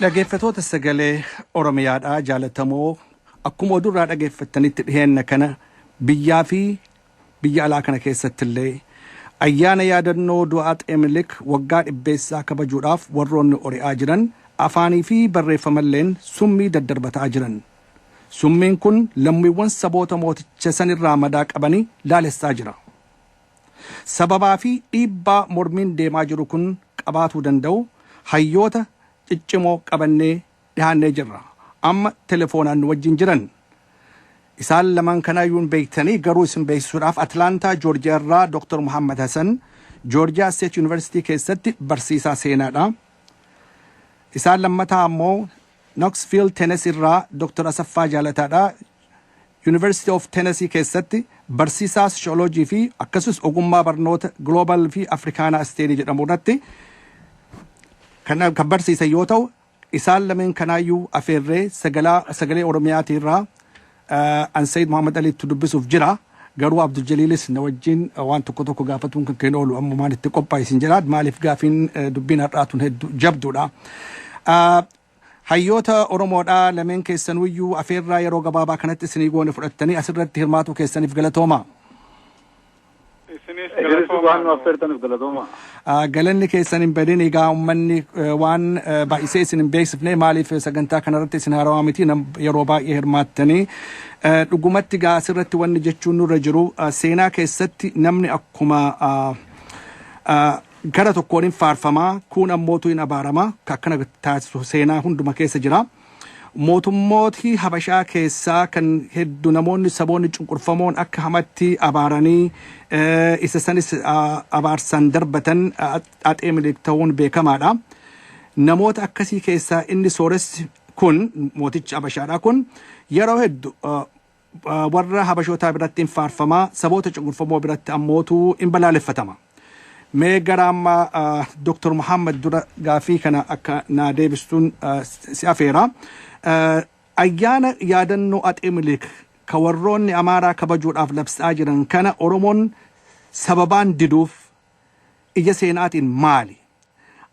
Dhageeffatoota sagalee Oromiyaadhaa jaalatamoo akkuma oduu irraa dhageeffattanitti dhiheenna kana biyyaa fi biyya alaa kana keessatti illee ayyaana yaadannoo du'a Axee Minilik waggaa dhibbeessaa kabajuudhaaf warroonni ori'aa jiran afaanii fi barreeffamalleen summii daddarbataa jiran. Summiin kun lammiiwwan saboota mooticha san irraa madaa qabanii laalessaa jira. Sababaa fi dhiibbaa mormiin deemaa jiru kun qabaatuu danda'u hayyoota ciccimoo qabannee dhihaannee jirra. Amma telefoonaan nu wajjin jiran. Isaan lamaan kanaayyuu hin beektanii garuu isin beeksisuudhaaf Atlaantaa Joorjiyaa irraa Dr. Muhammad Hasan Joorjiyaa State University keessatti barsiisaa seenaadha. Isaan lammataa ammoo Knoxville Tennessee irraa Dr. Asaffaa Jaalataadha. University of Tennessee keessatti barsiisaa Sociology fi akkasumas ogummaa barnoota Global fi Africana Study jedhamu irratti kan kan barsiisan yoo ta'u, isaan lameen kanaayyuu afeerree sagalaa sagalee Oromiyaatii irraa eh, an Said Muhammad Aliitti dubbisuuf jira. Garuu Abdul Jaliilis na wajjin eh, waan tokko tokko gaafatuun kan keenya oolu ammumaan itti qophaa'e isin jedha. Maaliif gaafiin eh, dubbiin har'aatuun hedduu jabduudha. Ah, Hayyoota Oromoodha, lameen keessanuuyyuu afeerraa yeroo gabaabaa kanatti isinii goone fudhattanii asirratti hirmaatuu keessaniif galatoomaa. Isinis Isinis waan nu galatoomaa nu. affeertaniif galatoomaa. Ah, Galanni keessan hin badin egaa uummanni eh, waan eh, baay'isee isin hin beeksifne maaliif sagantaa kanarratti isin haarawaa miti nam- yeroo baay'ee hirmaattanii Eh, dhugumatti egaa asirratti wanni jechuun nurra jiru ah, seenaa keessatti namni akkuma ah, ah, Gara tokkoon in faarfama, kuun ammootu in abaarama, ka akkana taasisu seenaa hunduma keessa jira. Mootummooti Habashaa keessaa kan heddu namoonni saboonni cunqurfamoon akka hamatti abaaranii eh, isa sanis ah, abaarsan darbatan ah, Axee Minilik ta'uun beekamaadha. Namoota akkasii keessaa inni sooressi kun mootichi Habashaadha kun yeroo heddu ah, warra Habashootaa biratti in faarfama, saboota cunqurfamoo biratti ammootu in balaaleffatama. Mee gara amma Dr. Muhammad dura gaafii kana akka naa deebistuun si afeera. Ayyaana yaadannoo Axee Minilik ka warroonni Amaaraa kabajuudhaaf labsaa jiran kana Oromoon sababaan diduuf Ija seenaatiin maali?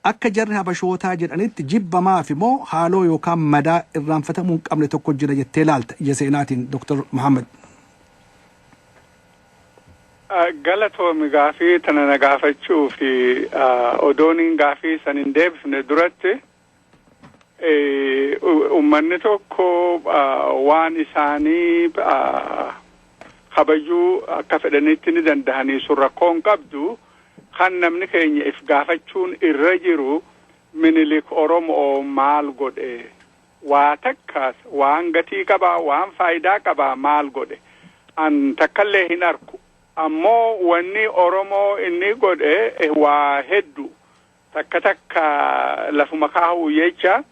Akka jarri Habashootaa jedhanitti jibba maafi moo haaloo yookaan madaa irraanfatamuu hin qabne tokko jira jettee laalta ija seenaatiin Dr. Mohammed? Galatoomi gaafii tana na gaafachuuf. Odooniin gaafii san hin deebifne duratti. Uummanni tokko waan isaanii kabajuu akka fedhanitti ni danda'anii sun rakkoo hin qabdu. Kan namni keenya if gaafachuun irra jiru minilik Oromoo maal godhe? Waa takkaas waan gatii qabaa waan faayidaa qabaa maal godhe? An takkallee hin arku. Ammoo wanni Oromoo inni godhe waa heddu. Takka takka lafuma kaahuu jecha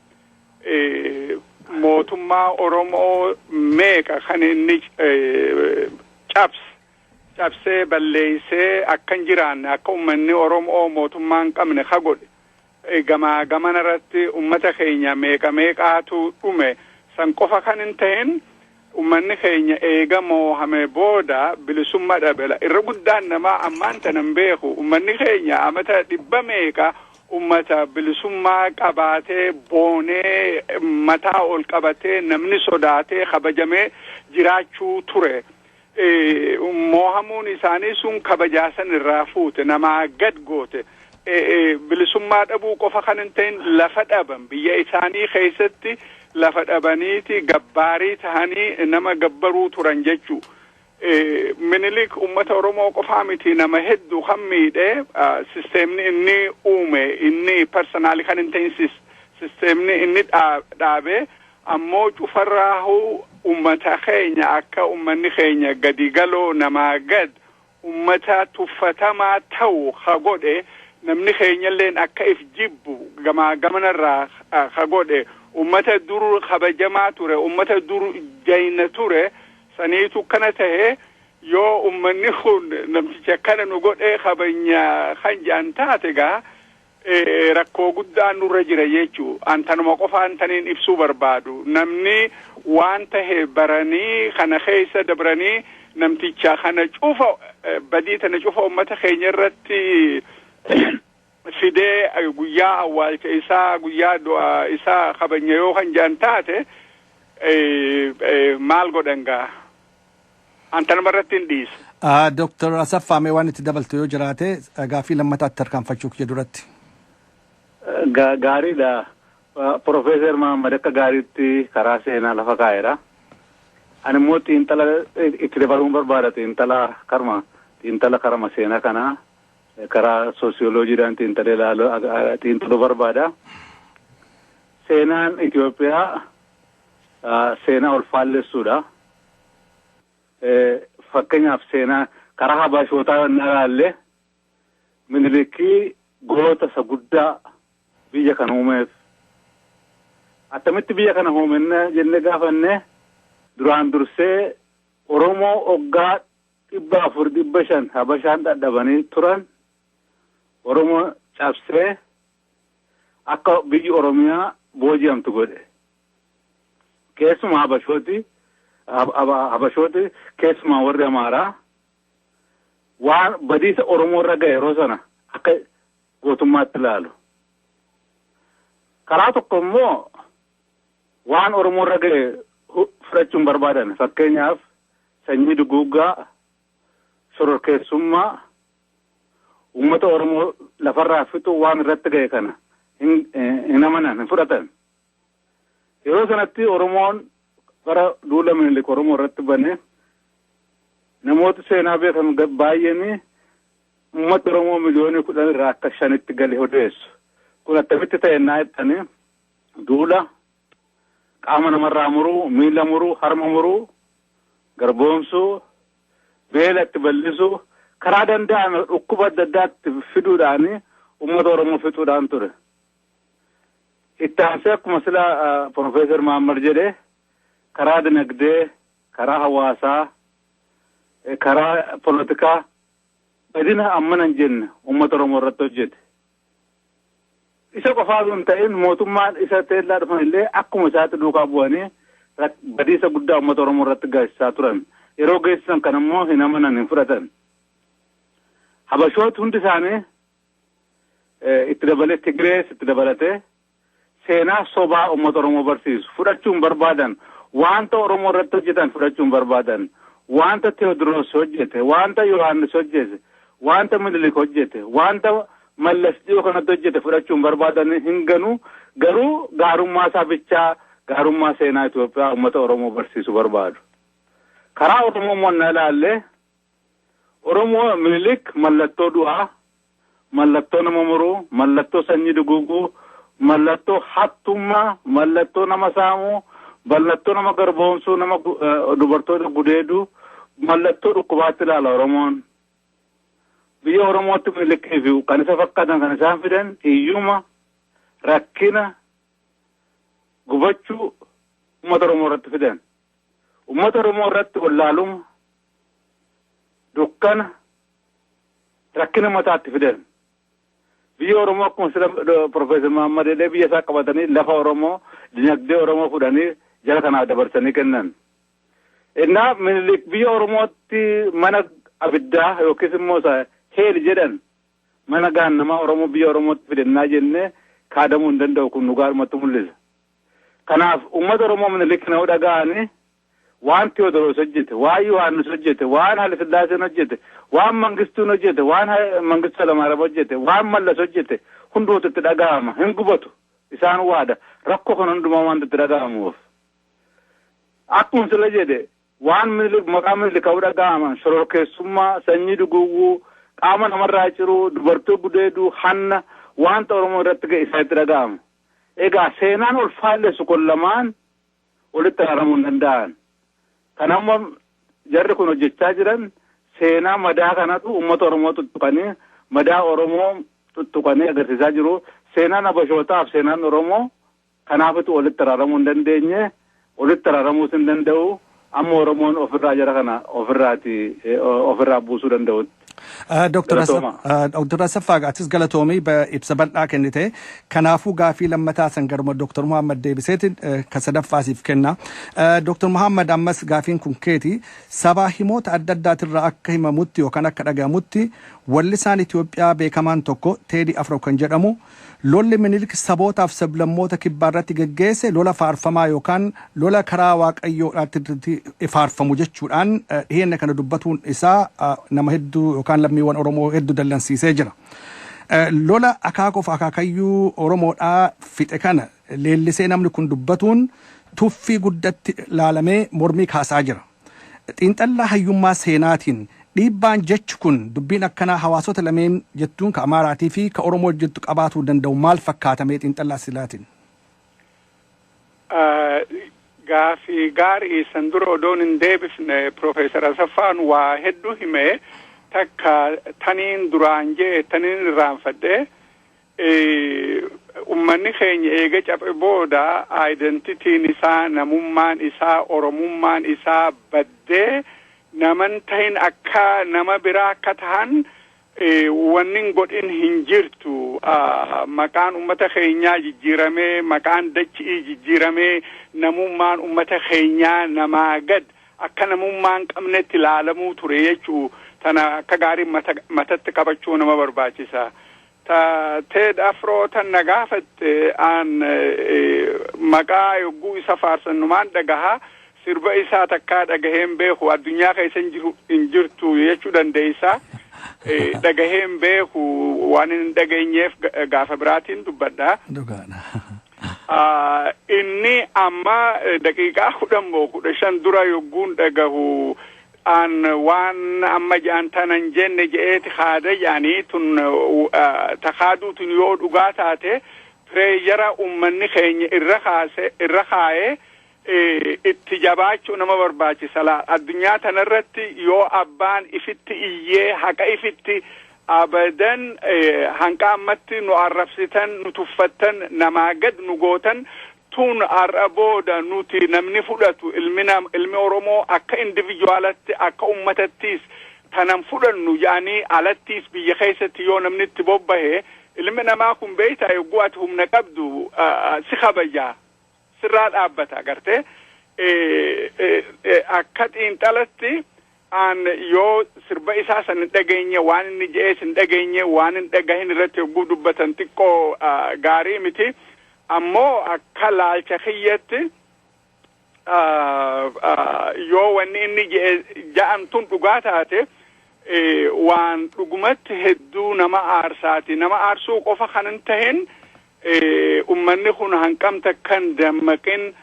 mootummaa Oromoo meeqa kan inni cabse cabsee balleessee akka hin jiraanne akka ummanni Oromoo mootummaa hin qabne ka godhe gamaa gamana irratti ummata keenya meeqa meeqaatu dhume san qofa kan hin ta'in Ummanni keenya eega moohame booda bilisumma dhabela. Irra guddaan namaa ammaan tana hin beeku. Ummanni keenya amata dhibba meeqa ummata bilisummaa qabaatee, boonee, mataa ol qabatee, namni sodaatee, kabajamee jiraachuu ture. Moohamuun isaanii sun kabajaa san irraa fuute. Namaa gad goote. bilisummaa dhabuu qofa kan hin ta'in lafa dhaban biyya isaanii keessatti lafa dhabaniiti gabbaarii tahanii nama gabbaruu turan jechuu. Minilik uummata Oromoo qofaa miti nama hedduu kan miidhe sisteemni inni uume inni parsanaalii kan hin ta'in sisteemni inni dhaabe ammoo cufarraahu uummata keenya akka uummanni keenya gadi galoo namaa gad ummata tuffatamaa ta'u ka godhe, namni keenyalleen akka if jibbu gamaa gamanarraa ka godhe, ummata dur kabajamaa ture, ummata dur jayna ture saniitu akkana tahe, yoo ummanni kun namticha akkana nu godhee kabajna kan jedhan taate egaa rakkoo guddaan nurra jira jechu an tanuma qofaan taniin ibsuu barbaadu namni waan tahe baranii kana keessa dabranii namticha kana cufa badii tana cufa ummata keenya irratti fidee guyyaa awwaalcha isaa guyyaa du'a isaa kabanya yoo kan jedhan taate maal godhan gaa An tanuma irratti hin dhiisu. Ah, Dr. Asaffaa mee waan itti dabaltu yoo jiraate eh, gaaffii lammataatti tarkaanfachuu kiyya duratti. Ga- Gaariidha. Ah, Profeesar Mahammad akka gaariitti karaa seenaa lafa kaa'eera. Ani immoo xiinxala eh, itti dabaluun barbaada xiinxala karma xiinxala karama seenaa kanaa eh, karaa soosiyoloojiidhaan xiinxalee ilaaluu ah, ah, xiinxaluu barbaada. Seenaan Itoophiyaa seenaa ol faallessuudha. Fakkeenyaaf seenaa karaa Habashootaa inni alaallee Minilikii goota isa guddaa biyya kan uumeef attamitti biyya kana hoomenne jennee gaafanne duraan dursee Oromoo oggaa dhibba afur dhibba shan Habashaan dhadhabanii turan Oromoo cabsee akka biyyi Oromiyaa booji'amtu godhe. Keessumaa Habashooti Habashooti keessumaa warri Amaaraa waan badiisa Oromoo irra ga'e yeroo sana akka gootummaatti ilaalu. Karaa tokko immoo waan Oromoo irra ga'e fudhachuun barbaadan fakkeenyaaf sanyii duguuggaa shororkeessummaa uummata Oromoo lafarraa fixuu waan irratti ga'e kana hin amanan hin fudhatan. Yeroo sanatti Oromoon bara duula Minilik Oromoo irratti bane namoota seenaa beekan baay'een uummata Oromoo miliyoonii kudhan irraa akka shanitti gale odeessu. Kun attamitti ta'e naa jettanii duula qaama namarraa muruu, miila muruu, harma muruu, garboomsuu, beela itti bal'isuu, karaa danda'ame dhukkuba adda addaatti fiduudhaan uummata Oromoo fixuudhaan ture. Itti aansee akkuma sila Pirofeesar Maammar jedhe karaa dinagdee, karaa hawaasaa, karaa polotikaa badina ammana hin jenne uummata Oromoo irratti hojjete. Isa qofaa osoo hin ta'in mootummaan isa teellaa dhufan illee akkuma isaatti duukaa bu'anii rak- badiisa guddaa uummata Oromoo irratti geessisaa turan. Yeroo geessisan kan immoo hin amanan hin fudhatan. Habashooti hundi isaanii eh, itti dabalee Tigirees itti dabalatee seenaa sobaa ummata Oromoo barsiisu fudhachuu hin barbaadan. Waanta Oromoo irratti hojjetan fudhachuu hin barbaadan. Waanta Teewodiroos hojjete, waanta Yohaannis hojjete, waanta Minilik hojjete, waanta Mallas dhiyoo kanatti hojjete fudhachuu hin barbaadan, hin ganu. Garuu gaarummaa isaa bichaa, gaarummaa seenaa Itoophiyaa ummata Oromoo barsiisu barbaadu. Karaa Oromoo immoo ennaa ilaalle, Oromoo Minilik mallattoo du'aa, mallattoo nama muruu, mallattoo sanyii duguuguu, mallattoo hattummaa, mallattoo nama saamuu, mallattoo nama garboomsuu, nama dubartoota gudeeduu, mallattoo dhukkubaatti ilaala Oromoon. Biyya Oromootti Minilikii fi kan isa fakkaatan kan isaan fidan hiyyuma, rakkina, gubachuu uummata Oromoo irratti fidan. Uummata Oromoo irratti wallaaluma, dukkana rakkina mataatti fidan. Biyya Oromoo akkuma sila Profeesar Mahammad jedhee biyya isaa qabatanii lafa Oromoo dinagdee Oromoo fudhanii jara kanaaf dabarsanii kennan. Innaa Minilik biyya Oromootti mana abiddaa yookiis immoo isa heeli jedhan mana gaannamaa Oromoo biyya Oromootti fidannaa jennee kaadamuu hin danda'u kun dhugaadhumatti mul'isa. Kanaaf uummata Oromoo Minilik kana yoo dhaga'anii Waan Tewoodiroos hojjete, waan Yohaannis hojjete, waan Halisillaaseen hojjete, waan Mangistuun hojjete, waan Mangistu Halamaaram hojjete, waan Mallas hojjete hundumatu itti dhagahama. Hin gubatu. Isaan waada. Rakkoo kana hundumaa waanta itti dhagahamuuf. Akkuma sila jedhe waan Minilik maqaa Minilik ka'uu dhagahaman shororkeessummaa, sanyii duguuguu, qaama namarraa ciruu, dubartoo gudeeduu, hanna waanta Oromoo irratti ga'e isaanitti dhagahama. Egaa seenaan ol faallessu kun lamaan walitti araaramuu hin danda'an. Kan amma jarri kun hojjechaa jiran seenaa madaa kanatu uummata Oromoo tuttuqanii madaa Oromoo tuttuqanii agarsiisaa jiru. Seenaan Habashootaaf seenaan Oromoo kanaafitu walitti araaramuu hin dandeenye walitti araaramuus hin danda'u. Amma Oromoon ofirraa jara kana ofirraati ofirraa buusuu danda'utti. Dr. Asaffaa atis galatoomii ibsa bal'aa kennite. Kanaafuu gaafii lammataa san garuma Dr. Muhammad deebiseeti ka sadaffaa siif kenna. Dr. Muhammad ammas gaafiin kun keeti sabaa himoota adda addaatirraa akka himamutti yookaan akka dhagahamutti wallisaan Itoophiyaa beekamaan tokko Teedii Afro kan jedhamu Lolli Minilik sabootaaf sablammoota kibbaarratti geggeesse lola faarfamaa yookaan lola karaa Waaqayyoodhaatti faarfamu jechuudhaan dhiheenya kana dubbatuun isaa nama hedduu yookaan lammiiwwan Oromoo hedduu dallansiisee jira. Lola akaakoof akaakayyuu Oromoodhaa fixe kana leellisee namni kun dubbatuun tuffii guddatti laalamee mormii kaasaa jira. Xiinxallaa hayyummaa seenaatiin dhiibbaan jechi kun dubbiin akkanaa hawaasota lameen jettuun ka Amaaraatii fi ka Oromoo jiddu qabaatuu danda'u maal fakkaata mee xiinxallaa silaatiin? Gaaffii gaarii san dura odoon hin deebifne Piroofeesar Asaffaan waa hedduu hime takka taniin duraan jee taniin irraanfadhe Ummanni keenya eega caphe booda identity-n isaa, namummaan isaa, Oromummaan isaa baddee nama hin tahin akka nama biraa akka tahan wanni hin godhin hin jirtu. Maqaan ummata keenyaa jijjiiramee, maqaan dachi'ii jijjiiramee, namummaan ummata keenyaa namaa gad akka namummaa hin qabnetti laalamuu ture jechu'u tana akka gaarii matatti qabachuu nama barbaachisa. Ta Ted Afro tan na gaafatte aan maqaa yogguu isa faarsan numaan dhagaha. Sirba isaa takkaa dhagahee hin beeku. Addunyaa keessa hin jiru hin jirtu jechuu dandeessa. Dhagahee hin beeku waan hin dhageenyeef gaafa biraatiin dubbadha. Dhugaadha. Inni amma daqiiqaa kudhan moo kudha shan dura yogguun dhagahu an waan amma ja'an tana hin jenne je'eeti kaada ja'ani tun ta kaaduu tun yoo dhugaa taate pireeyara ummanni keenya irra kaase irra kaaye itti jabaachuu nama barbaachisa laa addunyaa tanarratti yoo abbaan ifitti iyyee haqa ifitti abadan hanqa ammatti nu arrabsitan nu tuffattan namaa gad nu gootan tun har'a booda nuti namni fudhatu ilmi nam ilmi Oromoo akka individualatti akka ummatattiis tanan fudhannu jedhanii alattiis biyya keessatti yoo namni itti bobbahe ilmi namaa kun beektaa yogguu ati humna qabdu si kabaja sirraa dhaabbata agartee akka xiinxalatti an yoo sirba isaa san hin dhageenye waan inni je'ees hin dhageenye waan hin dhagahin irratti yogguu dubbatan xiqqoo ah, gaarii miti ammoo akka laalcha kiyyatti ah, ah, yoo wanni inni je'e ja'an tun dhugaa taate eh, waan dhugumatti hedduu nama aarsaati nama aarsuu qofa kan hin tahin Ummanni kun hanqam takka hin dammaqin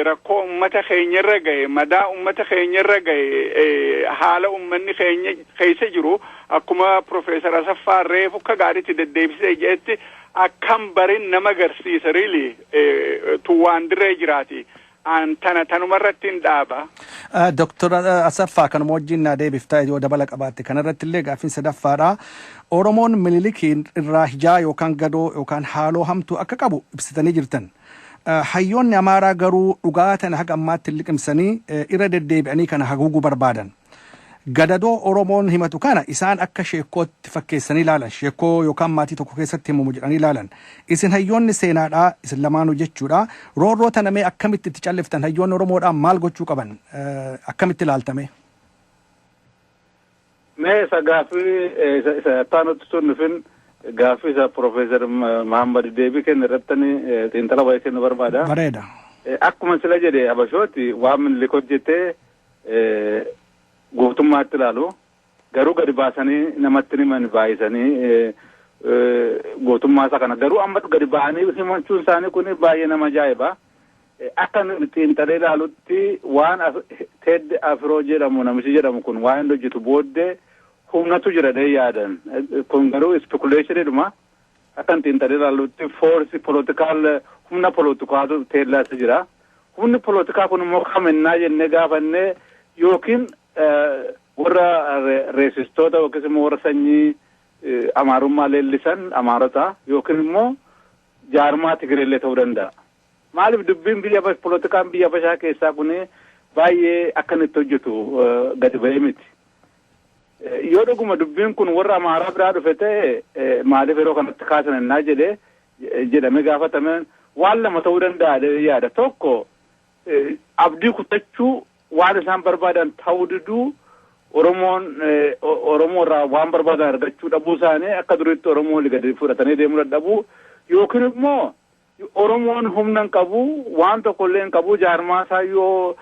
rakkoo ummata keenya irra gahe, madaa ummata keenya irra gahe, haala ummanni keenya keessa jiru akkuma Professor Asaffaa reefu akka gaariitti deddeebisee jedhetti akkam barin nama garsiisa really tu waan dirree jiraati. An tana tanuma irrattin dhaaba. Doktar Asaffaa kanuma wajjin naa deebifta yoo dabala qabaatte kana irratti illee gaaffiin sadaffaadha. Oromoon Minilikiin irraa hijaa yookaan gadoo yookaan haaloo hamtuu akka qabu ibsitanii jirtan. Hayyoonni Amaaraa garuu dhugaa tana haga ammaatti hin liqimsanii irra deddeebi'anii kana haguuguu barbaadan. Gadadoo Oromoon himatu kana isaan akka sheekkootti fakkeessanii ilaalan. Sheekkoo yookaan maatii tokko keessatti himamu jedhanii ilaalan. Isin hayyoonni seenaadha, isin lamaanuu jechuudha. Roorroo tana mee akkamitti itti calliftan? Hayyoonni Oromoodhaa maal gochuu qaban? Akkamitti ilaalta mee? Mee isa gaaffii eh, isa isa taanutti sun dhufin gaaffii isa Profeesar Mahammad deebii kenna irratti eh, xiinxala wayii kennu barbaada. Bareeda. Eh, Akkuma sila jedhe Habashooti waan Minilik hojjete guutummaatti ilaalu. Garuu gadi baasanii namatti himan baay'isanii guutummaa isaa kana garuu amma gadi ba'anii himachuun isaanii kun baay'ee nama ajaa'iba. Akka xiinxalee ilaalutti waan Ted Afroo jedhamu namichi jedhamu kun waan inni hojjetu booddee humnatu jira dee yaadan. Kun garuu spekuleeshiniidhuma. Akkan xiinxalee ilaallutti foorsi polotikaal humna polotikaatu teellaasa jira. Humni polotikaa kun immoo kam ennaa jennee gaafanne yookiin warra reesistoota yookiis immoo warra sanyii amaarummaa leellisan amaarota yookiin immoo jaarmaa Tigireellee ta'uu danda'a. Maaliif dubbiin biyya polotikaan biyya Habashaa keessaa kun baay'ee akkan itti hojjetu gadi ba'ee miti. Yoo dhuguma dubbiin kun warra Amaaraa biraa dhufe ta'e maaliif yeroo kanatti kaasan ennaa jedhe jedhamee gaafatame waan lama ta'uu danda'a jedhee yaada. Tokko abdii kutachuu waan isaan barbaadan ta'uu diduu Oromoon Oromoo irraa waan barbaadan argachuu dhabuu isaanii akka duriitti Oromoo gadi fudhatanii deemuu dadhabuu yookiin immoo Oromoon humna hin qabu, waan tokko illee hin qabu, jaarmaa isaa yoo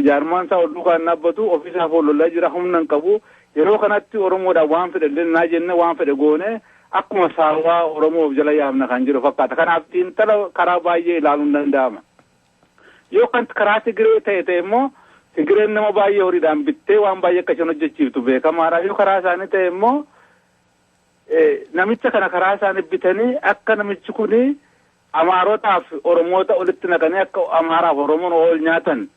jaarmaan isaa ol duukaa hin dhaabbatu, ofii isaaf ol lolaa jira, humna hin qabu. Yeroo kanatti Oromoodhaan waan fedhe illee naa jenne waan fedhe goone akkuma saawwaa Oromoo of jala yaafna kan jiru fakkaata. Kanaaf xiinxala karaa baay'ee ilaaluun danda'ama. Yoo kan karaa Tigiree ta'e ta'e immoo Tigireen nama baay'ee horiidhaan bittee waan baay'ee akka isheen hojjechiiftu beekamaadha. Yoo karaa isaanii ta'e immoo Namicha kana karaa isaanii bitanii akka namichi kun Amaarotaa fi Oromoota olitti naqanii akka Amaaraa fi Oromoon ool nyaatan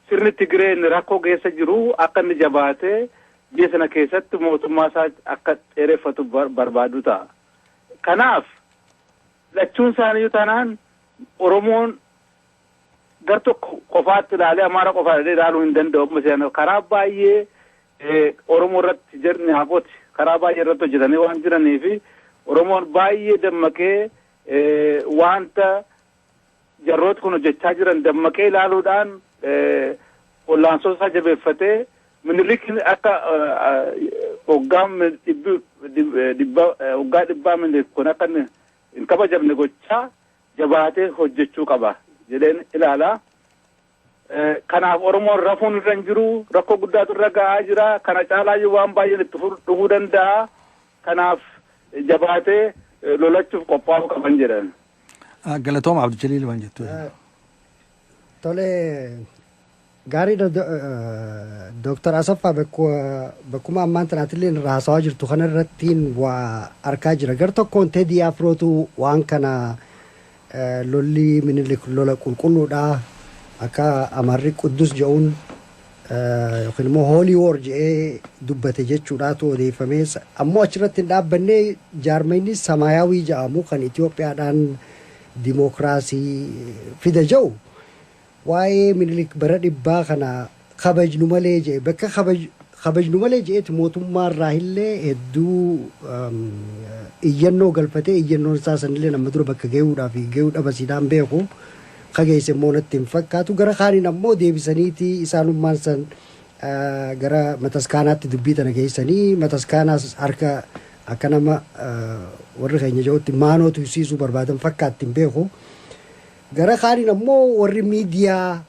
sirni Tigiree inni rakkoo keessa jiru akka inni jabaatee biyya sana keessatti mootummaa isaa akka dheereffatu barbaadu ta'a. Kanaaf lachuun isaaniiyyuu taanaan Oromoon gar tokko qofaatti ilaalee Amaara qofaa jedhee ilaaluu hin danda'u amma seenaa karaa baay'ee Oromoo irratti jarni hafooti karaa baay'ee irratti hojjetanii waan jiranii fi Oromoon baay'ee dammaqee wanta jarrooti kun hojjechaa jiran dammaqee ilaaluudhaan ollaansoo isaa jabeeffatee minilikin akka hoggaa hoggaa dhibbaa minilik kun akka hin kabajamne gochaa jabaatee hojjechuu qaba jedheen ilaala. Kanaaf Oromoon rafuun irra hin jiru. Rakkoo guddaatu irra ga'aa jira. Kana caalaayyuu waan baay'een itti dhufuu danda'a. Kanaaf jabaatee lolachuuf qophaa'uu qaban jedhan. Galatooma Abdujaliil waan jettu. Tole gaariidha Dooktar Asaffaa bakkuma ammaan tanaatillee irraa haasawaa jirtu kana irrattiin waa arkaa jira. Gar tokkoon Tedii Afrootu waan kana lolli minilik lola qulqulluudha akka Amaarri Quddus je'uun yookiin immoo hoolii woor je'ee dubbate jechuudhaatu odeeffamee ammoo achirratti hin dhaabbanne jaarmayni samaayaawii ja'amu kan Itoophiyaadhaan dimookiraasii fida ja'u waa'ee Minilik bara dhibbaa kana kabajnu malee ja'e bakka kabajnu malee ja'etti mootummaa irraahillee hedduu iyyannoo galfatee iyyannoon isaa sanillee amma dura bakka ga'uudhaa fi ga'uu dhabasiidhaan beeku kageesse immoo natti hin fakkaatu gara kaaniin ammoo deebisaniitii isaanummaan san gara mataskaanaatti dubbii tana geessanii mataskaanaas harka akka nama warri keenya jedhutti maanoo tursiisuu barbaadan fakkaatti hin beeku. Gara kaaniin ammoo warri miidiyaa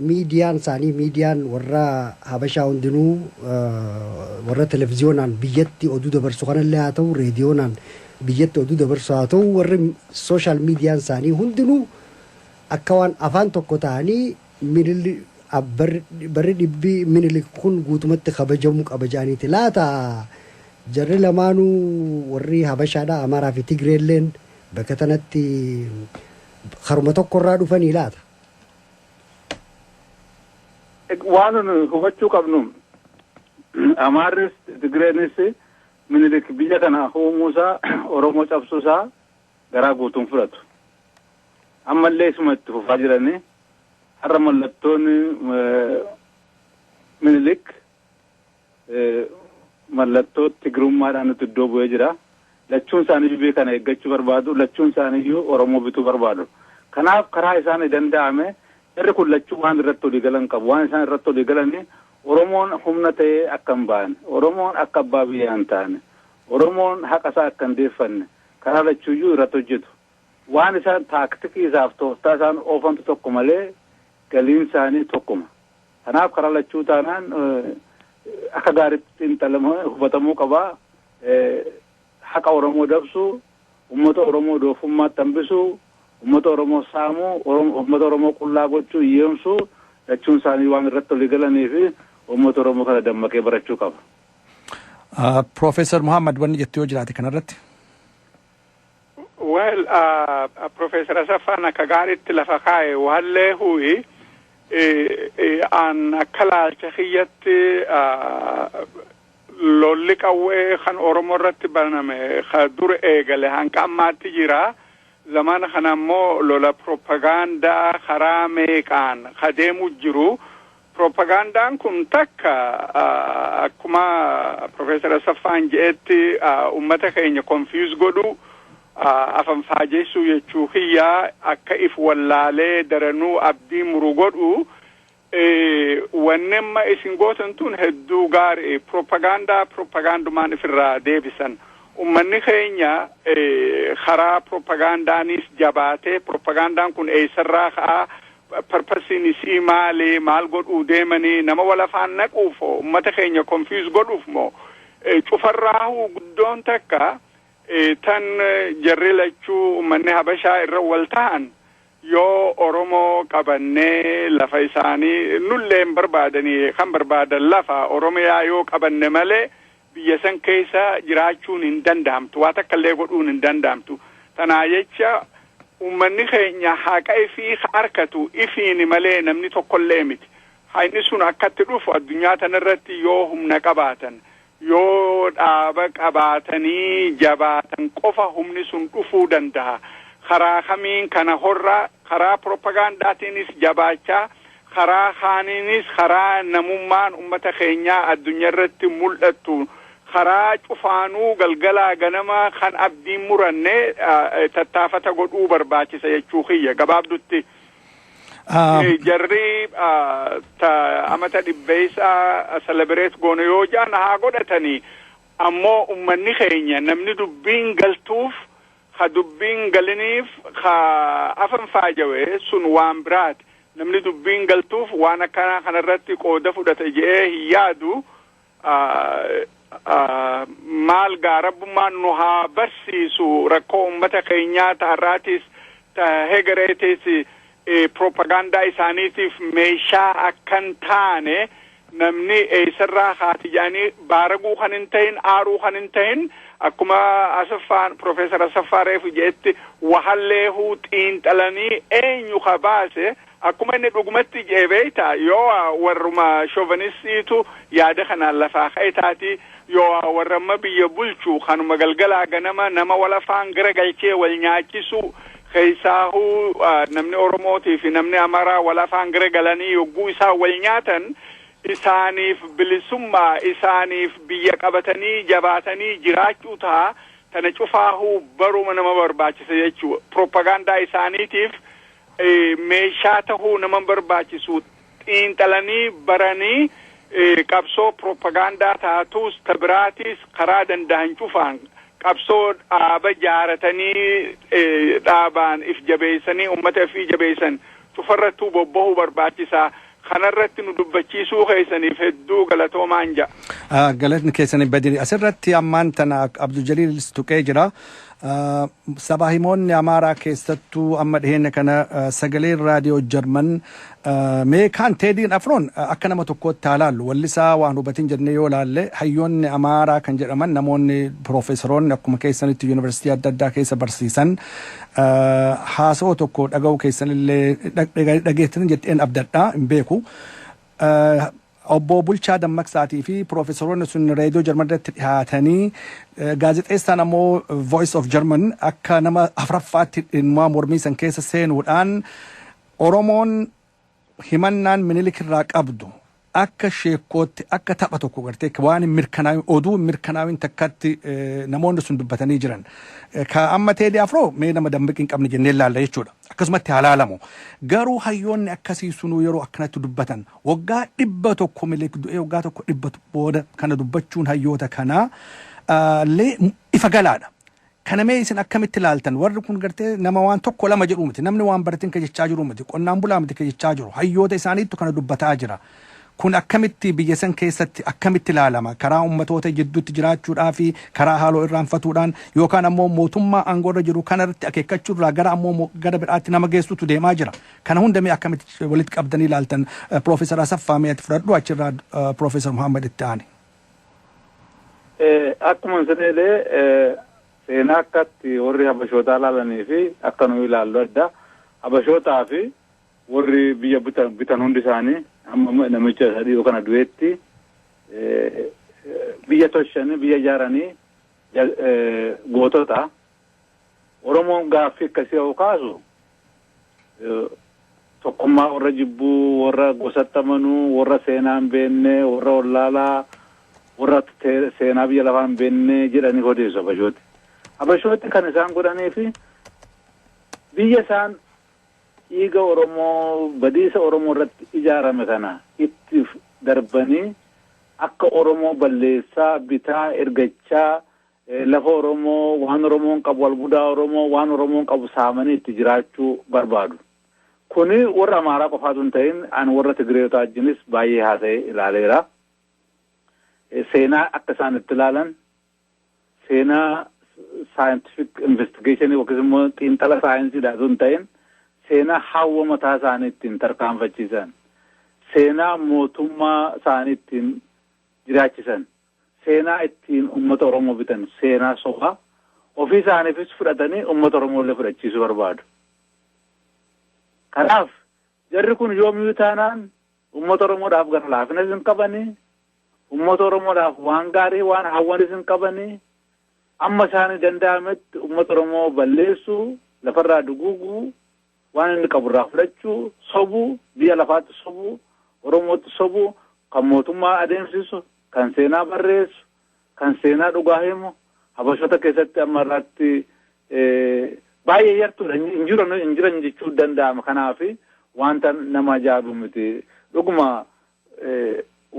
miidiyaan isaanii miidiyaan warra Habashaa hundinuu warra televiziyoonaan biyyatti oduu dabarsu kanallee haa ta'u reediyoonaan biyyatti oduu dabarsu haa ta'u warri sooshaal miidiyaan isaanii hundinuu akka waan afaan tokko ta'anii Minili barri dhibbi Minilik kun guutumatti kabajamu qaba jedhaniiti laata? Jarri lamaanu warri Habashaadha Amaaraa fi Tigree illeen bakka tanatti karuma tokko irraa dhufanii laata? Waan nu hubachuu qabnu Amaarris Tigreenis Minilik biyya kana uumuu isaa Oromoo cabsuu isaa garaa guutuun fudhatu. Ammallee isuma itti fufaa jiranii har'a mallattoon Minilik mallattoo Tigrummaadhaan nutti iddoo bu'ee jira. Lachuun isaaniiyyuu biyya kana eeggachuu barbaadu. Lachuun isaaniiyyuu Oromoo bituu barbaadu. Kanaaf karaa isaan danda'ame jarri kun lachuu waan irratti olii galan qabu. Waan isaan irratti olii galanii Oromoon humna ta'ee akka hin baane, Oromoon akka abbaa biyyaa hin taane, Oromoon haqa isaa akka hin deeffanne, Karaa lachuuyyuu irratti hojjetu. Waan isaan taaktikii isaaf tooftaa isaan oofantu tokko malee galiin isaanii tokkuma. Kanaaf karaa lachuu taanaan akka gaariitti xiinxalamee hubatamuu qaba. Haqa Oromoo dabsuu, ummata Oromoo doofummaatti hambisuu, ummata Oromoo saamuu, ummata Oromoo qullaa gochuu, hiyyoomsuu lachuun isaanii waan irratti walii galaniif ummata Oromoo kana dammaqee barachuu qaba. Ah, Professor Muhammad wanni jettu yoo jiraate kanarratti. Well, uh, Professor Asaffaan akka gaariitti lafa kaa'e waallee hu'i eh, eh, an akka laalcha kiyyatti ah, lolli qawwee kan Oromoo irratti baname ka dur eegale hanga ammaatti jira. Zamana kana immoo lola propagaandaa karaa meeqaan ka deemu jiru Piroopagaandaan kun takka akkuma Pirofeesar Asaffaan je'etti ummata keenya konfiyuus godhu afanfaajeessuu jechuu kiyya akka if wallaalee daranuu abdii muru godhu wanni amma isin gootan tun hedduu gaari piroopagaandaa piroopagaandumaan ifirraa deebisan ummanni keenya karaa piroopagaandaanis jabaatee piroopagaandaan kun eessarraa ka'aa Purpose-n isii maali? Maal godhuu deemanii? Nama wal afaan naquuf hoo? Ummata keenya confuse godhuuf moo? Cufarraahuu guddoon takka tan jarri lachuu ummanni Habashaa irra wal tahan yoo Oromoo qabannee lafa isaanii nullee hin barbaadanii kan barbaadan lafa Oromiyaa yoo qabanne malee biyya san keessa jiraachuun hin danda'amtu waa takka illee godhuun hin danda'amtu tanaa jecha ummanni keenya haqa ifii ka arkatu ifiini malee namni tokko illee miti ha inni sun akkatti dhufu addunyaa tana irratti yoo humna qabaatan yoo dhaaba qabaatanii jabaatan qofa humni sun dhufuu dandaha karaa kamiin kana horraa karaa propagaandaatiinis jabaachaa Karaa kaaniinis karaa namummaan ummata keenyaa addunyarratti mul'attu karaa cufaanuu galgalaa ganama kan abdiin muranne tattaafata godhuu barbaachisa jechuu kiyya gabaabdutti. Jarri amata dhibbeessaa selebireet goone yoo jaan haa godhatanii ammoo ummanni keenya namni dubbiin galtuuf Ka dubbiin galiniif ka afan faajawe sun waan biraati. Namni dubbiin galtuuf waan akkanaa kanarratti qooda fudhata je'ee hin yaadu. Maal gaa Rabbummaan nu haa barsiisu rakkoo ummata keenyaa ta har'aatiis ta hegereetiis propagaandaa isaaniitiif meeshaa akka hin taane namni eessarraa kaate jedhanii baaraguu kan hin tahin aaruu kan hin tahin akkuma Asaffaan Profeesar Asaffaa Reefu jedhetti wahalleehuu xiinxalanii eenyu ka baase akkuma inni dhugumatti jedhe beeyta yoo warruma shoovanistiitu yaada kanaan lafaa ka'e taati Yooah warri amma biyya bulchu kanuma galgalaa ganama nama wal afaan gara galchee wal nyaachisu keessaahuu namni Oromootii fi namni Amaraa wal afaan gara galanii yogguu isaan wal nyaatan isaaniif bilisummaa isaaniif biyya qabatanii jabaatanii jiraachuu taha tana cufaahuu baruma nama barbaachisa jechuu propaganda isaaniitiif meeshaa tahuu nama hin barbaachisu xiinxalanii baranii qabsoo piroopagaandaa taatuus ta biraatiis karaa dandahan cufaan qabsoo dhaaba jaaratanii dhaabaan if jabeessanii ummata ifii jabeessan cufarrattuu bobbahuu barbaachisa. Kanarratti nu dubbachiisuu keessaniif hedduu galatoomaan ja'a. Galatni keessanii badiri. Asirratti ammaan tana Abdul Jaliil tuqee jira. Sabaahimoonni Amaaraa keessattuu amma dhiheenya kana sagaleen raadiyoo Jarman mee kaan Teediin Afroon akka nama tokkootti haa laallu wallisaa waan hubatin jennee yoo laalle hayyoonni Amaaraa kan jedhaman namoonni piroofeesaroonni akkuma keessanitti yuunivarsiitii adda addaa keessa barsiisan haasoo tokko dhaga'uu keessanillee dhageettan jettee abdadha hin beeku. Obbo Bulchaa Dammaqsaatii fi piroofeesaroonni sun reediyoo Jarman irratti dhihaatanii gaazexeessaan ammoo Voice of German akka nama afraffaatti dhimmaa mormii san keessa seenuudhaan Oromoon himannaan minilik irraa qabdu akka sheekkootti akka tapha tokko gartee waan hin mirkanaa'in oduu hin mirkanaa'in takkatti namoonni sun dubbatanii jiran. Ka amma Teedii Afroo mee nama dammaqi hin qabne jennee ilaalla jechuudha. akkasumatti haa laalamu. Garuu hayyoonni akkasii sunuu yeroo akkanatti dubbatan waggaa dhibba tokko miliik du'ee waggaa tokko dhibba booda kana dubbachuun hayyoota kanaa ah, illee ifa galaadha. Kana mee isin akkamitti ilaaltan? Warri kun gartee nama waan tokko lama jedhu miti. Namni waan barateen ka jechaa jiru miti. Qonnaan bulaa miti ka jechaa jiru. Hayyoota isaaniittu kana dubbataa jira. Kun akkamitti biyya san keessatti akkamitti laalama? Karaa ummatoota jidduutti jiraachuudhaa fi karaa haaloo irraanfatuudhaan yookaan ammoo mootummaa aangoo irra jiru kana irratti akeekkachuu irraa gara ammoo gara biraatti nama geessutu deemaa jira. Kana hunda mee akkamitti walitti qabdanii laaltan? Piroofeesar Asaffaa mee ati fudhadhu achirraa Piroofeesar Muhammad itti aani. Akkuma isin jedhee seenaa akkatti warri habashootaa ilaalanii fi akka nuyi ilaallu adda. Habashootaa fi Warri biyya bitan hundi isaanii amma namicha isa dhiyoo kana du'eetti biyya toshanii biyya ijaaranii gootota. Oromoon gaaffii akkasii yoo kaasu tokkummaa warra jibbuu, warra gosatti amanuu, warra seenaa hin beekne, warra wallaalaa, warra seenaa biyya lafaa hin beekne jedhanii odeessu Habashooti. Habashooti kan isaan godhanii fi biyya isaan Dhiiga Oromoo badiisa Oromoo irratti ijaarame kana itti darbanii akka Oromoo balleessaa, bitaa, ergachaa, lafa Oromoo, waan Oromoon qabu, albudaa Oromoo, waan Oromoon qabu saamanii itti jiraachuu barbaadu. Kuni warra Amaaraa qofaa osoo hin ta'in ani warra Tigireeyotaa wajjinis baay'ee haasa'ee ilaaleera. Seenaa akka isaan itti ilaalan, seenaa saayintifik investigeeshinii yookiis immoo xiinxala saayinsiidhaa osoo hin ta'in seenaa hawwa mataa isaanii ittiin tarkaanfachiisan seenaa mootummaa isaanii ittiin jiraachisan seenaa ittiin uummata Oromoo bitan seenaa sobaa ofii isaaniifis fudhatanii uummata Oromoo illee fudhachiisuu barbaadu. Kanaaf jarri kun yoomiyuu taanaan Uummata Oromoodhaaf gara laafinas hin qabani. Uummata Oromoodhaaf waan gaarii waan hawwanis hin qabani. Amma isaanii danda'ametti uummata Oromoo balleessuu, lafarraa duguuguu, waan inni qabu irraa fudhachuu, sobuu, biyya lafaatti sobuu, Oromootti sobuu, kan mootummaa adeemsisu, kan seenaa barreessu, kan seenaa dhugaa himu habashoota keessatti amma irraatti baay'ee yartuudha hin jiran hin jiran jechuu danda'ama kanaaf wanta nama ajaa'ibu miti dhuguma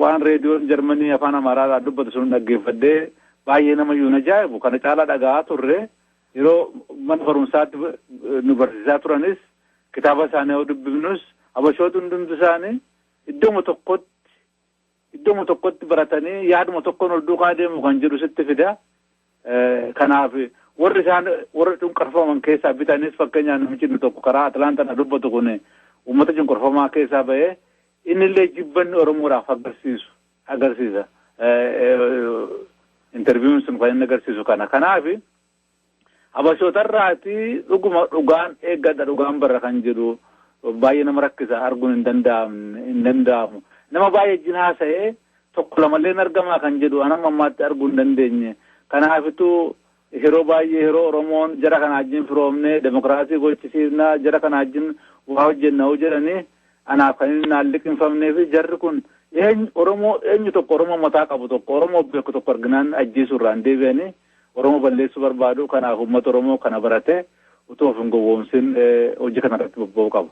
waan reediyoon jarmanii afaan amaaraadhaa dubbatu sun dhaggeeffadhee baay'ee nama iyyuu ajaa'ibu kana caalaa dhaga'aa turre yeroo mana barumsaatti nu barsiisaa turanis kitaaba isaanii yoo dubbifnus habashoota hundumti isaanii iddooma tokkotti Iddoma tokkotti baratanii yaaduma tokkoon ol duukaa deemu kan jedhu sitti fida. Kanaaf warri isaan warra cunqurfaman keessaa bitanis fakkeenyaaf namichi inni tokko karaa Atlaantaa na dubbatu kun uummata cunqurfamaa keessaa bahee inni illee jibbanni Oromoodhaaf agarsiisu agarsiisa. Interviiwuun sun kan inni agarsiisu kana. Kanaaf Habashootarraati dhuguma dhugaan eeggadha dhugaan barra kan jedhu baay'ee nama rakkisa arguun hin danda'amne hin danda'amu. Nama baay'ee wajjin haasa'ee tokko lamallee hin argamaa kan jedhu an amma ammaatti arguu hin dandeenye. Kanaafitu yeroo baay'ee yeroo Oromoon jara kana wajjin firoomne demokraasii gochisiifna jara kana wajjin waa hojjenna hoo jedhanii anaaf kan inni naan liqinfamnee fi jarri kun eenyu Oromoo eenyu tokko Oromoo mataa qabu tokko Oromoo beeku tokko arginaan ajjeesuurraan deebi'anii Oromoo balleessuu barbaadu. Kanaaf uummata Oromoo kana barate utuu of hin gowwoomsin hojii kana irratti bobba'uu qaba.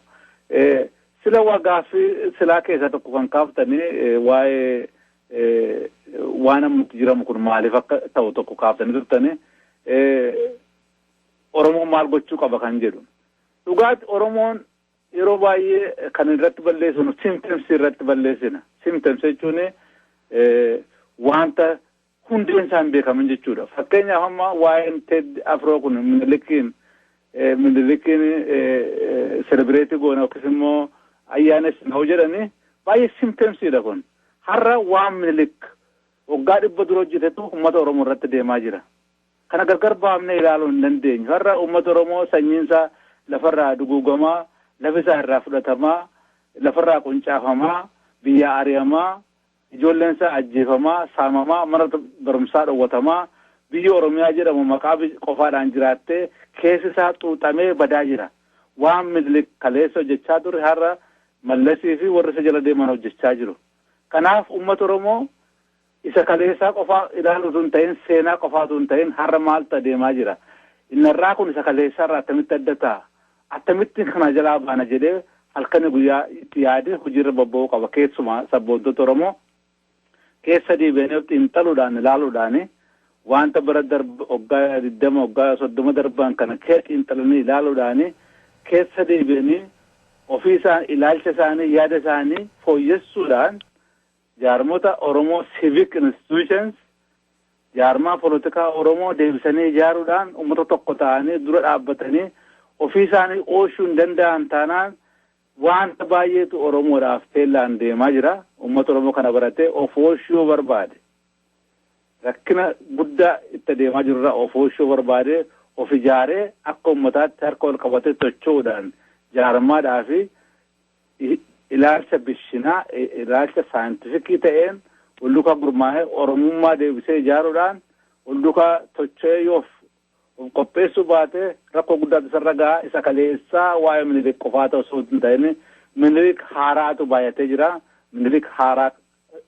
Sila waa gaaffii silaa keessaa tokko kan kaaftanii waa'ee waan amma itti jiramu kun maaliif akka ta'u tokko kaaftanii turtanii Oromoon maal gochuu qaba kan jedhu. Dhugaatti Oromoon yeroo baay'ee kan irratti balleessinu symptoms irratti balleessina. Symptoms jechuun wanta hundeen isaa hin beekamin jechuudha. Fakkeenyaaf amma waa'een Ted Afroo kun Minilikiin Minilikiin selebireetii goona yookiis immoo ayyaanessina yoo jedhani baay'ee simteemsiidha kun. Har'a waan Minilik waggaa dhibba dura hojjetetu uummata Oromoo irratti deemaa jira. Kana gargar baafnee ilaaluu hin dandeenyu. Har'a uummata Oromoo sanyiinsaa lafarraa duguugamaa, lafisaa irraa fudhatamaa, lafarraa quncaafamaa, biyyaa ari'amaa, Ijoolleen isaa ajjeefamaa, saamamaa, mana barumsaa dhowwatamaa, biyyi Oromiyaa jedhamu maqaa qofaadhaan jiraattee keessi isaa xuuxamee badaa jira. Waan Minilik kaleessa hojjechaa ture har'a Mallasii fi warri isa jala deeman hojjechaa jiru. Kanaaf uummata Oromoo isa kaleessaa qofaa ilaaluu utuu hin ta'in seenaa qofaa utuu hin ta'in har'a maaltu adeemaa jira? Inni har'aa kun isa kaleessaarraa attamitti adda ta'a? Attamitti kana jalaa baana jedhee halkanii guyyaa itti yaadee hojiirra bobba'uu qaba. Keessumaa sabboontota Oromoo keessa deebi'anii of xiinxaluudhaan, ilaaluudhaan waanta bara darbe waggaa digdama, waggaa soddoma darban kana keessa xiinxalanii ilaaluudhaan keessa deebi'anii ofii isaanii, ilaalcha isaanii, yaada isaanii fooyyessuudhaan jaarmota Oromoo civic institutions Jaarmaa polotikaa Oromoo deebisanii ijaaruudhaan ummata tokko ta'anii dura dhaabbatanii ofii isaanii ooshuu hin danda'an taanaan waanta baay'eetu Oromoodhaaf teellaan deemaa jira. Ummata Oromoo kana baratee of ooshuu yoo barbaade rakkina guddaa itti adeemaa jirurraa of ooshuu yoo barbaade of ijaaree akka ummataatti harka ol qabatee socho'uudhaan jaarmaadhaa fi ilaalcha bishinaa, ilaalcha saayintifikii ta'een waldukaa gurmaa'ee Oromummaa deebisee ijaaruudhaan waldukaa tocho'ee yoo of qopheessuu baate rakkoo guddaatu isarra gaha. Isa kaleessaa waa'ee Minilik qofaa ta'u osoo hin ta'in Minilik haaraatu baay'atee jira. Minilik haaraa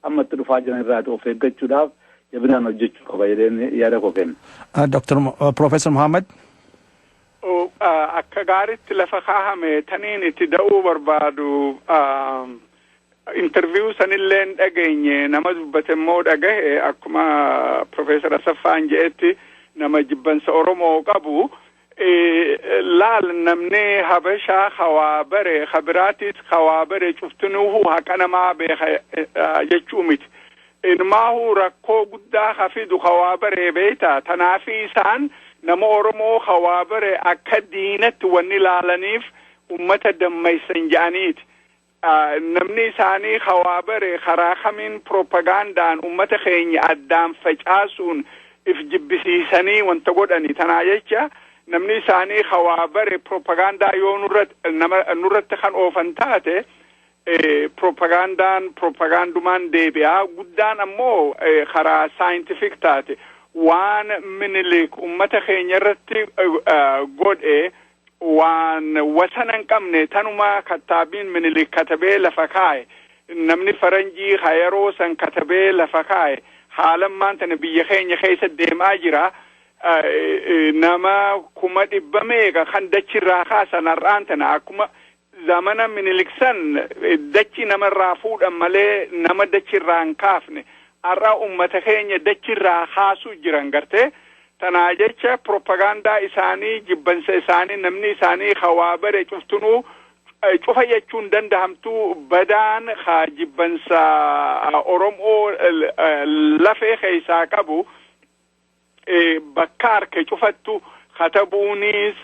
amma itti dhufaa jiran irraa of eeggachuudhaaf jabinaan hojjechuu qaba jedheen yaada koo kenna. Dr. Professor Muhammad. Akka gaariitti lafa kaahame taniin itti da'uu barbaadu interviyuu sanillee hin dhageenye nama dubbate immoo dhagahe akkuma Professor Asaffaan jedhetti nama jibbansa Oromoo qabu laal namni habashaa hawaa bare habiraatis hawaa bare cuftinuuhu haqa namaa beeka jechuu miti. Inumaahu rakkoo guddaa hafidu hawaa baree beekta. Tanaafi isaan nama Oromoo hawaa bare akka diinatti wanni laalaniif ummata dammaysan ja'aniiti. Namni isaanii ka waa bare karaa kamiin propagaandaan ummata keenya addaan facaasuun if jibbisiisanii wanta godhani. Tanaa jecha namni isaanii ka waa bare propagaandaa yoo nurratti kan oofan taate propagaandaan propagaandumaan deebi'a. Guddaan ammoo karaa saayintifik taate waan minilik ummata keenya irratti godhe waan wasana hin qabne tanuma kattaabiin minilik katabee lafa kaa'e namni faranjii ha yeroo san katabee lafa kaa'e haalan maan tana biyya keenya keessa deemaa jira nama kuma dhibba meeqa kan dachirraa kaasan har'aan tana akkuma Zamana Minilik san dachi nama irraa fuudhan malee nama dachi irraa hin kaafne. Har'a ummata keenya dachi irraa kaasuu jiran gartee. Tanaa jecha propagaandaa isaanii jibbansa isaanii namni isaanii ka waa bare cuftunuu cufa jechuun dandahamtu badaan ka jibbansa Oromoo lafee keessaa qabu bakka arke cufattu katabuunis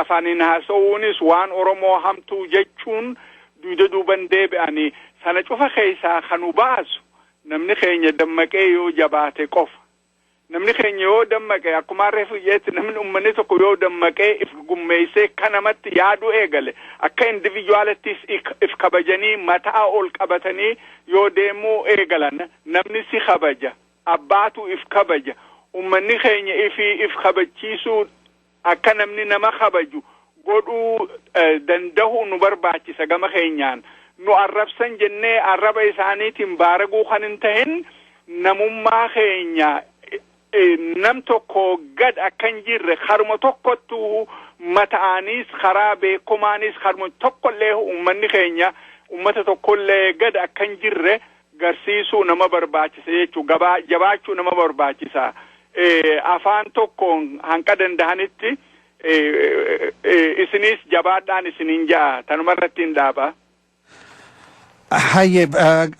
afaaniin haasa'uunis waan Oromoo hamtuu jechuun duuda duuban deebi'anii sana cufa keessaa kan nu baasu namni keenya dammaqee yoo jabaate qofa. Namni keenya yoo dammaqee akkuma harree fuyyeetti namni uummanni tokko yoo dammaqee if gummeessee akka namatti yaaduu eegale akka individuaalittis if kabajanii mataa ol qabatanii yoo deemuu eegalan namni si kabaja Abbaatu if kabaja. Ummanni keenya ifi if kabachiisuu akka namni nama kabaju godhuu dandahuu nu barbaachisa gama keenyaan. Nu arrabsan jennee arraba isaaniitiin baaraguu kan hin tahin namummaa keenya nam tokko gad akka hin jirre karuma tokkottu mata'aaniis karaa beekomaaniis karuma tokkollee ummanni keenya ummata tokkollee gad akka hin jirre garsiisuu nama barbaachisa jechuu gabaa jabaachuu nama barbaachisa afaan tokkoon hanqa dandahanitti isiniis jabaadhaan isinin ja'a tanuma irratti hin dhaaba. Hayyee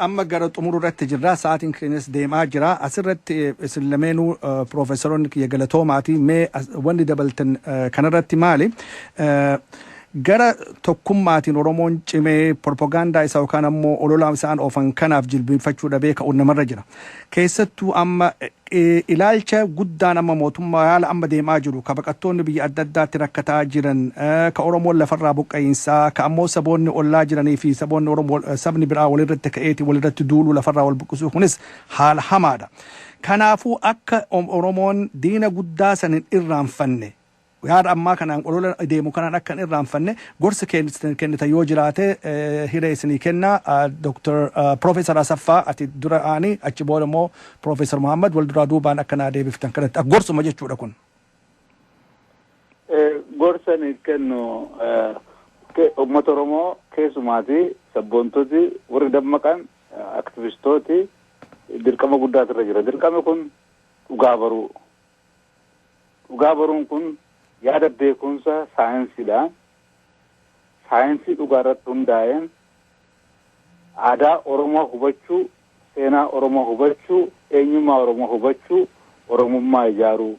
amma gara xumuruu irratti jirra sa'aatiin keenyas deemaa jira asirratti isin lameenuu piroofeesaroonni kiyya galatoomaati mee wanni dabaltan kanarratti maali Gara tokkummaatiin Oromoon cimee propaganda isaa yookaan ammoo olola isaan oofan kanaaf jilbiinfachuu dhabee ka'uun namarra jira. Keessattuu amma ilaalcha guddaan amma mootummaa haala amma deemaa jiru ka baqattoonni biyya adda addaatti rakkataa jiran, ka Oromoon lafarraa buqqa'iinsaa, ka ammoo saboonni ollaa jiranii fi saboonni Oromoo sabni biraa walirratti ka'eeti walirratti duuluu lafarraa wal buqqisuu kunis haala hamaadha. Kanaafuu akka Oromoon diina guddaa san hin irraanfanne, Yaada ammaa kanaan olola deemu kanaan akka hin irraanfanne gorsi keen- kennitan yoo jiraate eh, hiree isinii kenna Ah, Dr. ah, Professor Asaffaa ati dura aani achi booda immoo Professor Muhammad wal duraa duubaan akka naa deebiftan kanatti akka gorsuma jechuudha kun. Eh, gorsa ni kennu eh, ke- uummata Oromoo keessumaati sabboontoti warri dammaqan eh, aktivistooti dirqama guddaatu irra jira. Dirqami kun dhugaa baruu Dhugaa baruun kun yaada beekumsa saayinsiidha. Saayinsii dhugaa irratti hundaa'een aadaa Oromoo hubachuu, seenaa Oromoo hubachuu, eenyummaa Oromoo hubachuu, Oromummaa ijaaruu.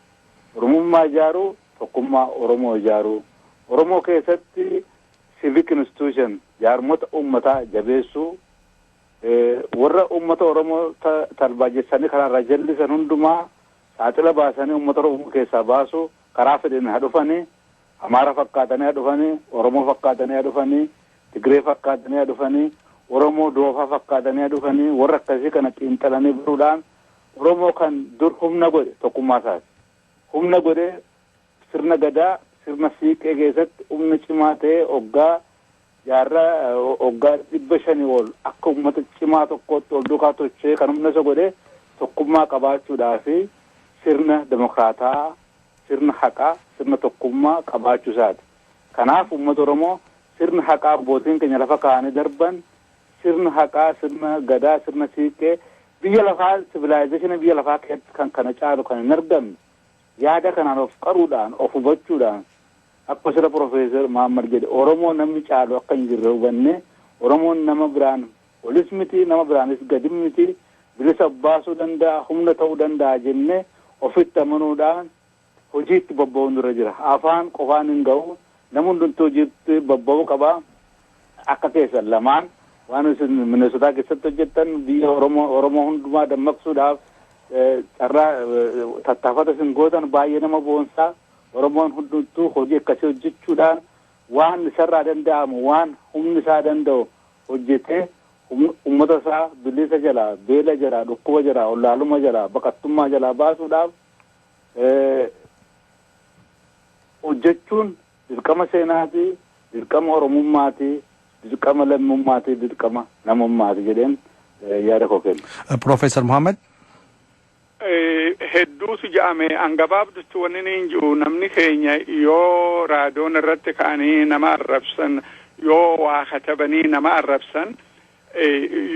Oromummaa ijaaruu tokkummaa Oromoo ijaaruu. Oromoo keessatti civic institution, jaarmota uummataa jabeessuu, warra uummata Oromoo tarbaajessanii karaarraa jallisan hundumaa Saaxila baasanii ummata Oromoo keessaa baasuu karaa fedheen haa dhufanii, Amaara fakkaatanii haa dhufanii, Oromoo fakkaatanii haa dhufanii, Tigree fakkaatanii haa dhufanii, Oromoo doofaa fakkaatanii haa dhufanii warra akkasii kana xiinxalanii baruudhaan Oromoo kan dur humna godhe tokkummaa isaati. Humna godhee Sirna Gadaa, sirna Siiqqee keessatti humna cimaa ta'ee oggaa jaarraa oggaa 500 ol akka ummata cimaa tokkootti wal duukaa tocho'ee kan humna isa godhe tokkummaa qabaachuudhaa fi sirna demokraataa'aa, sirna haqaa, sirna tokkummaa qabaachuu isaati. Kanaaf ummata Oromoo sirna haqaa abbootiin keenya lafa kaa'anii darban, sirna haqaa, sirna Gadaa, sirna Siiqqee biyya lafaa civilization biyya lafaa keessatti kan kana caalu kan hin argamne Yaada kanaan of qaruudhaan, of hubachuudhaan akkuma sila Professor Mohammad jedhe Oromoo namni caalu akka hin jirre hubannee Oromoon nama biraan olis miti nama biraanis gadi miti bilisa of baasuu danda'a, humna ta'uu danda'a jennee ofitti amanuudhaan hojiitti bobba'uun nurra jira. Afaan qofaan hin ga'u. Namni hundumtuu hojiitti bobba'uu qaba. Akka keessan lamaan waan isin Minnesota keessatti hojjettan biyya Oromoo Oromoo hundumaa dammaqsuudhaaf carraa tattaafata isin gootan baay'ee nama boonsaa. Oromoon hundumtuu hojii akkasii hojjechuudhaan waan isarraa danda'amu waan humni isaa danda'u hojjetee uummata isaa bilisa jalaa beela jalaa dhukkuba jalaa ollaaluma jalaa baqattummaa jalaa baasuudhaaf hojjechuun Dirqama seenaati, dirqama Oromummaati, dirqama lammummaati, dirqama namummaati jedheen yaada koo kenna. Professor Mohammed. Hedduutu ja'ame an gabaabdutti wanni niin ji'u namni keenya yoo raadoon irratti ka'anii nama arrabsan yoo waa katabanii nama arrabsan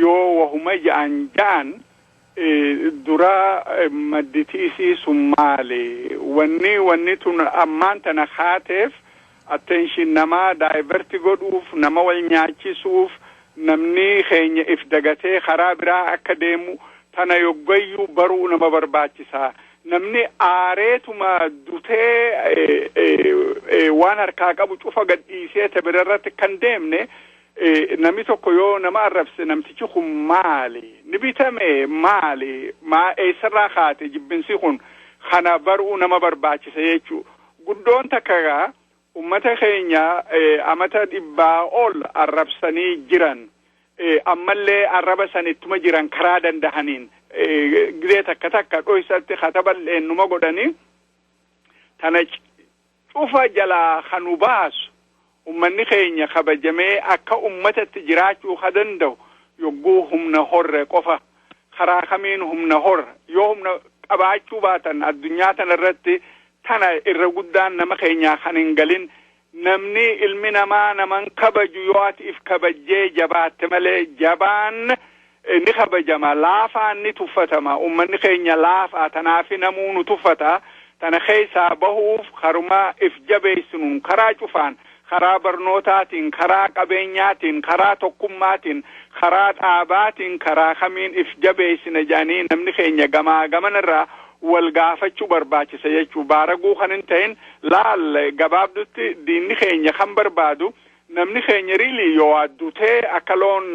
yoo wahuma ja'an ja'an duraa madditi isii sun maali? Wanni wanni tun ammaan tana kaateef attention namaa divert godhuuf, nama wal nyaachisuuf, namni keenya if dagatee karaa biraa akka deemu tana yoggayyuu baruu nama barbaachisa. Namni aareetuma dutee waan harkaa qabu cufa gad dhiisee ta birarratti akka hin deemne Namni tokko yoo nama arrabse namtichi kun maali? Ni bitame maali? Maa eessarraa kaate jibbinsi kun kana baruu nama barbaachisa jechuu. Guddoon takka egaa ummata keenya amata dhibbaa ol arrabsanii jiran. Ammallee arraba san ittuma jiran karaa dandahaniin gizee takka takka dhoysatti kataballee numa godhanii tana cufa jalaa ka nu baasu, ummanni keenya kabajamee akka ummatatti jiraachuu ka danda'u yogguu humna horre qofa. Karaa kamiin humna horra? Yoo humna qabaachuu baatan addunyaa tana irratti tana irra guddaan nama keenyaa kan hin galin. Namni ilmi namaa nama hin kabaju yoo ati if kabajjee jabaatte malee jabaan Ni kabajama, laafaan ni tuffatama. Ummanni keenya laafaa tanaafi namuu nu tuffata. Tana keessaa bahuuf karuma if jabeessinuun, karaa cufaan, karaa barnootaatiin, karaa qabeenyaatiin, karaa tokkummaatiin, karaa dhaabaatiin, karaa kamiin if jabeessina jedhanii namni keenya gamaa gamana irraa wal gaafachuu barbaachisa jechuudha. Baaraguu kan hin tahin laal gabaabdutti diinni keenya kan barbaadu Namni keenya really yoo waa dutee akka loon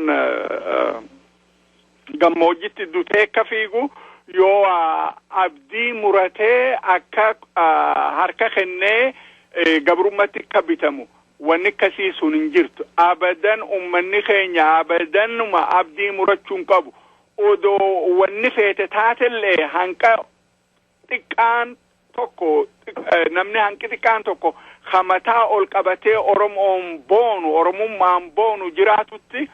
gammoojjitti dutee akka fiigu yoo waa abdii muratee akka harka kennee gabrummatti akka bitamu wanni akkasii sun hin jirtu abadan ummanni keenya abadanuma abdii murachuu hin qabu odoo wanni feete taatellee hanqa xiqqaan tokko namni hanqi xiqqaan tokko hamataa ol qabatee Oromoon boonu Oromummaan boonu jiraatutti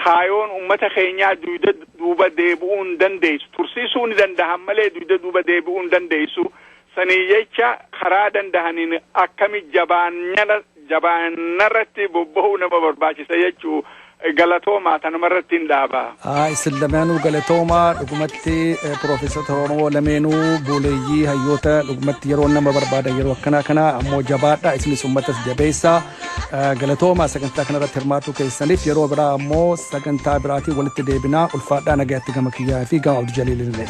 kaayoon ummata keenyaa duyda duuba deebi'uu hin dandeessu tursiisuu ni danda'an malee duyda duuba deebi'uu hin dandeessu Saniif jecha karaa dandahaniin akkami jabaannyana jabaannarratti bobbahuu nama barbaachisa jechuu galatoomaa tanumarrattiin dhaaba. Haa issin lamaanuu galatoomaa dhugumatti professota oromoo lameenuu buuleeyyii hayyoota dhugumatti yeroo nama barbaadan yeroo akkanaa kana ammoo jabaadha isinis ummatas jabeessa galatoomaa sagantaa kanarratti hirmaatuu keessaniif yeroo biraa ammoo sagantaa biraatiin walitti deebinaa ulfaadhaa nagayatti gama kiyyaa fi gama abdu jaliilillee.